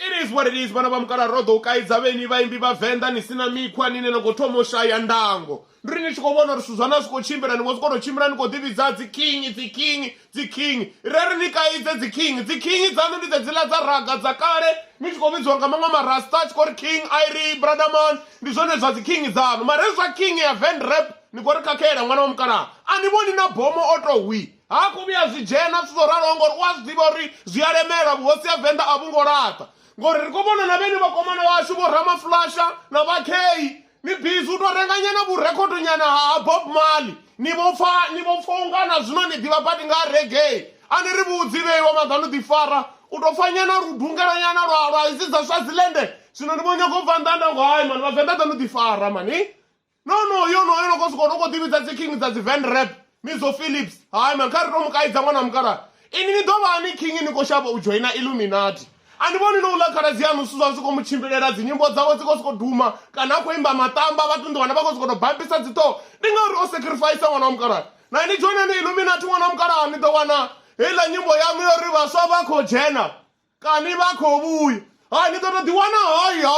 it is what it is vhana vha mukala ro ḓo u kaidza vheni vhaimbi vha venḓa ni sina mikhwa nine no khou thoma u shaya ndango ndi ri ni tshi khou vhona uri zwithu zwa na zwi khou tshimbila ni vho zwi kona u tshimbila ni khou ḓivhidza dziking dziking dziking re ri ni kaidze dziking dziking dzaṋu ndi dzedziḽa dza raga dza kale ni tshi khou vhidziwa nga maṅwe marasta a tshi khou ri king iri bradaman ndi zwone zwa dziking dzaṋu mare zwa king ya venrap ni khou ri khakhela ṅwana wa mukalaha a ni vhoni na bomo o to hwii Ha khou vhuya zwi dzhena zwithu zwo raloho ngori u a zwi ḓivha uri zwi a lemela vhuhosi ha venḓa a vhu ngo laṱa ngori ri khou vhona na vhene vhakomana vhashu vho ramafulasha na vhakhei ni bizi u tou renganyana vhurekhodonyana ha bob mali ni vho pfa ni vho pfa ungana zwino ni ḓivha badi nga regei a ni ri vhudzi vheiwa maḓanu ḓifara u tou pfanyana ludungelanyana lwa lwa idzi dza swazilende zwino ndi vho nyago u bva nḓanda ngo hai mani vhavenḓa ḓanu ḓifara mani no no yo no yo no kosuka unoko tivhidza dzi king dza dzi van rap mizo philips hayi man kha ri to mukaidza n'wana wa mukala ini ni ḓo vha ni king ni khou shavha u joina illuminati a ni vhoni no u ḽa khaladzi yanu zwithu zwa zwi khou mu tshimbilela dzinyimbo dzawe dzi khou sokou duma kana a khou imba matamba vhathu ndi wana vha khou sokou tou bambisa dziṱhoho ndi ngauri o sacrifice ṅwana wa mukala na ni joinani illuminati ṅwana wa mukala ni ḓo wana heiḽa nyimbo yanu yo ri vhaswa vha khou dzhena kani vha khou vhuya ha ni ḓo to ḓi wana hoyo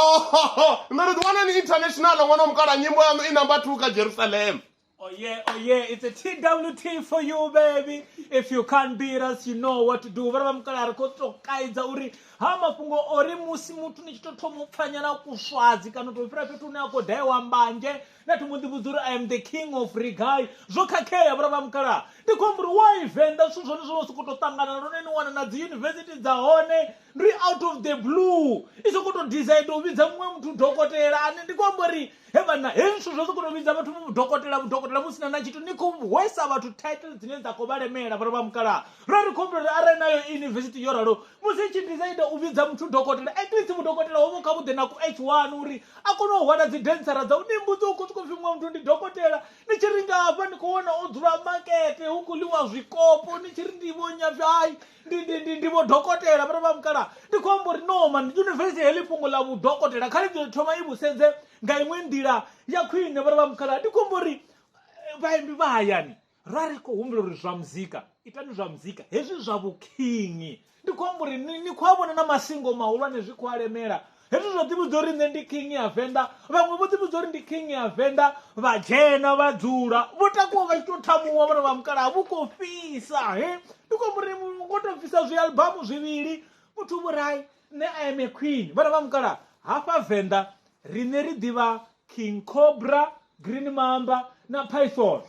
ni ḓo to ḓi wana ni international ṅwana wa mukala nyimbo yanu i number two kha jerusalem Oh yeah, oh yeah, it's a TWT for you baby. If you can't beat us, you know what to do. Vhara vha mukala ri khou to kaidza uri ha mafhungo ori musi muthu ni tshi to thoma u pfanyana kuswadzi kana u to fhira fhethu hune a khou daewa mbanzhe na to mbo ḓi vhudza uri i am the king of regai zwo khakhea vhura vha mukalaha ndi khou amba uri why venḓa zwithu zwone zwo no sokou tou ṱangana lune ni wana na dzi yunivesithi dza hone ndi out of the blue i sokou tou decide u vhidza muṅwe muthu dokotela ane ndi khou amba uri he vhana he zwithu zwo sokou tou vhidza vhathu dokotela vhudokotela vhu sina na tshithu ni khou hwesa vhathu title dzine dza khou vha lemela vhura vha mukalaha ra ri khou amba uri arali nayo yunivesithi yo ralo musi i tshi decide u vhidza muthu dokotela at least mudokotela hovho kha vhuḓe na ku h one uri a kone u hwala dzi densara dzau ni mbudzi u khou sokou pfhi muṅwe muthu ndi dokotela ni tshi ringa hafha ni khou wana o dzula makete hu khou ḽiwa zwikopo ni tshi ri ndi vho nyapfi hai ndi ndi ndi ndi vho dokotela vhara vha mukala ndi khou amba uri no man yunivesithi heḽi fhungo ḽa vhudokotela kha ḽi ḓo thoma i vhusedze nga iṅwe nḓila ya khwine vhara vha mukala ndi khou amba uri eh, vhaimbi vha hayani ra ri khou humbula uri zwa muzika itani zwa muzika hezwi zwa vhukhingi ndi khou amba uri ni khou a vhona na masingo mahulwane zwi khou alemela hezwi zwa ḓivhudza uri nṋe ndi khingi ya venḓa vhaṅwe vho ḓivhudza uri ndi khingi ya venḓa vha dzhena vha dzula vho takuwa vha tshi tou thamuwa vhona vha mukalaha vhu khou fhisa he ndi khou amba uri vho tou bvisa zwialbamu zwivhili muthu vhurai Nṋe I am a queen vhana vha mukala hafha venḓa riṋe ri ḓivha king cobra green mamba na python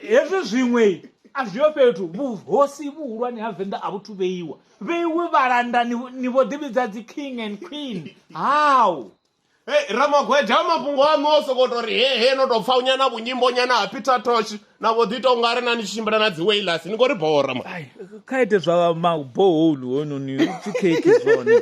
hezwi zwiṅwe a zwi yo fhethu vhuhosi vhuhulwane ha venḓa a vhuthu vheiwa vheiwe vhalanda ni vho ḓivhidza dzi king and queen how Hey, ramagweda mafhungo aṋu o sokou tou ri he he no tou pfa unyana vhunyimbo nyana ha peter tosh na vho ḓi tou nga ri na ni tshi tshimbila na dzi wailas ni khou ri bora ma ai kha ite zwa ma borehole hoyunoni u pfi khekhi zwone